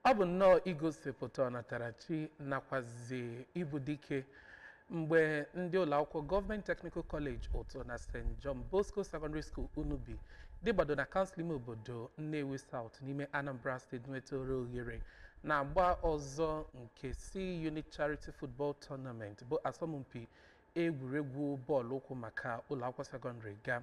Ọ bụ nnọọ igosipụta ọnatarachi nakwazi ịbụ dike mgbe ndị ụlọakwụkwọ Gọọmenti Technical College Utuh na St. John Bosco Secondary School Unubi dịgbado na kansụl ime obodo Nnewi South n'ime Anambra State nwetara ohere n'agba ọzọ nke C-Unit Charity Football Tournament bụ asọmpi egwuregwu bọọlụ ụkwụ maka ụlọakwụkwọ sekọndịrị ga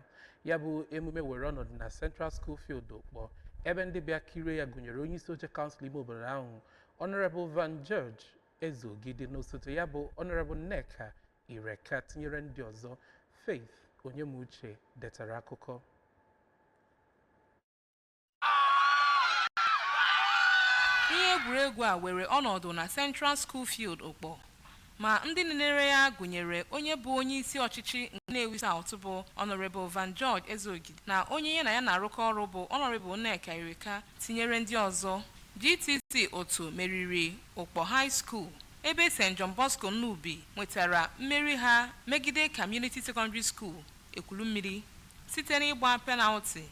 ya bụ emume were ọnọdụ na Central School Field Ukpor ebe ndị bịa kirie ya gụnyere onye isi oche kansụl ime obodo ahụ Honorable Van George Ezeogidi na osote ya bụ Honorable Nneka Ireka tinyere ndị ọzọ Faith Onyemuche detara akụkọ Ihe egwuregwu a were ọnọdụ na Central School Field Ukpor ma ndị nenere ya gụnyere onye bụ onyeisi ọchịchị Nnewi South bụ Honourable Van George Ezeogidi na onye ya na ya na-arụkọ ọrụ bụ Honourable Nneka Irika tinyere ndị ọzọ. GTC Utuh meriri Ukpor High School ebe St John Bosco Unubi nwetara mmeri ha megide Community Secondary School Ekwulummiri site n'ịgba penalti.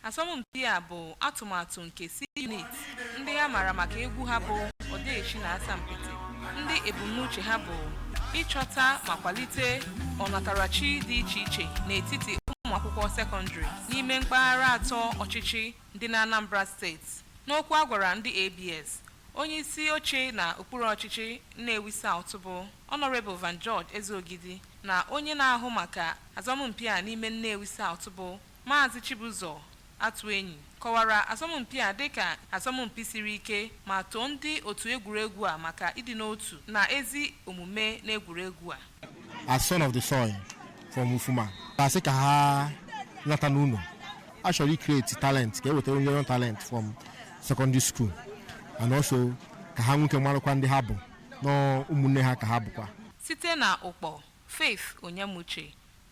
Asọmpi a bụ atụmatụ nke C-Unit ndị a maara maka egwu ha bụ Odeeshi na Asampete ndị ebumnuche ha bụ ịchọta ma kwalite ọnatarachi dị iche iche n'etiti ụmụ akwụkwọ sekọndịrị n'ime mpaghara atọ ọchịchị dị n'Anambra steeti. N'okwu a gwara ndị ABS, onye isi oche na okpuru ọchịchị Nnewi South bụ Honourable Van George Ezeogidi na onye na-ahụ maka asọmpi a n'ime Nnewi South bụ Maazị Chibuzor Atuenyi kọwara asọmpi a dịka asọmpi siri ike ma too ndị otu egwuregwu a maka ịdị n'otu na ezi omume n'egwuregwu a. as son of the soil from Ufuma a sị ka ha nata n'ụnọ a chọrọ icreate talent ka e wetara onye young talent from secondary school and also ka ha nwee ike malụkwa ndị ha bụ na ụmụnne ha ka ha bụkwa Site na Ukpor, Faith Onyemuche